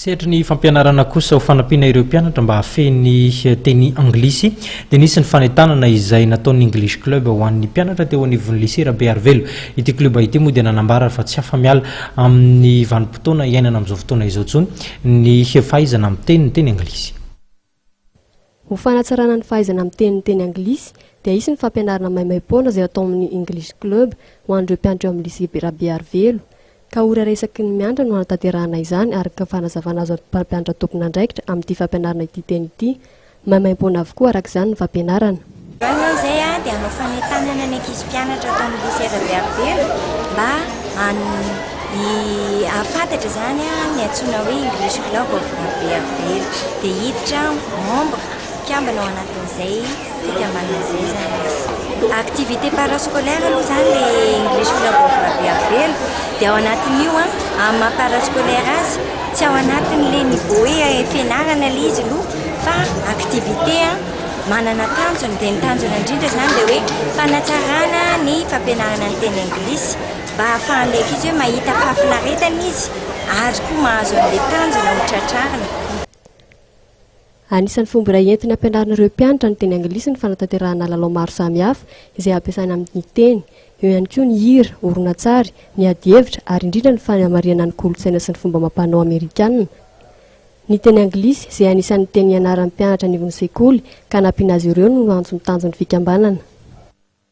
Sehatry ny fampianarana kosa ho fanampiana ireo mpianatra mba hahafehy ny teny anglisy dia nisy ny fanentanana izay nataon'ny English Club ho an'ny mpianatra teo anivon'ny Lycée Rabearivelo. Ity klioba ity moa dia nanambara fa tsy afa-miala amin'ny vanim-potoana iainana amin'izao fotoana izao intsony ny fahaizana miteny ny teny anglisy. Ho fanatsarana ny fahaizana miteny ny teny anglisy dia hisy ny fampianarana maimaim-poana izay atao amin'ny English Club ho an'ireo mpianatra eo amin'ny Lycée Rabearivelo. Ka ora resaky ny miantra no hanatanterahana izany araka ny fanazavana azo avy mpampianatra tompon'andraikitra amin'ity fampianarana ity teny ity. Maimaim-poana avokoa araka izany ny fampianarana. Izany izao izay dia hanao fanentanana ny ankizy mpianatra ato amin'ny Lycée Rabe Haribela mba hahafantatra izany ny antsoina hoe English Club of Rabe Haribela. Dia hiditra membre, mpikambana, ao anatin'izay fikambanana izay izany izy. Activité parascolaire aloha izany ilay English Club of Rabe Haribela. Dia ao anatin'io, amin'ny maha parascolaire azy, tsy ao anatin'ilay niveau hoe fianarana ilay izy aloha fa activité. manana tanjony dia ny tanjona indrindra izany dia hoe fanatsarana ny fampianarana ny teny anglisy mba hahafahan'ilay ankizy hoe mahita fahafinaretana izy ary koa mahazo an'ilay tanjona ho tratrarina. Anisan'ny fomba iray entina ampianarina ireo mpianatra ny teny anglisy ny fanatanterahana lalao maro samihafa izay ampiasaina amin'ny teny. Eo ihany koa ny hira, horonantsary, ny adihevitra ary indrindra ny fanamarihana ny kolontsaina sy ny fomba amam-panao amerikana. Ny teny anglisy, izay anisan'ny teny ianaran'ny mpianatra anivon'ny sekoly ka nampiana azy ireo no antso ny tanjon'ny fikambanana.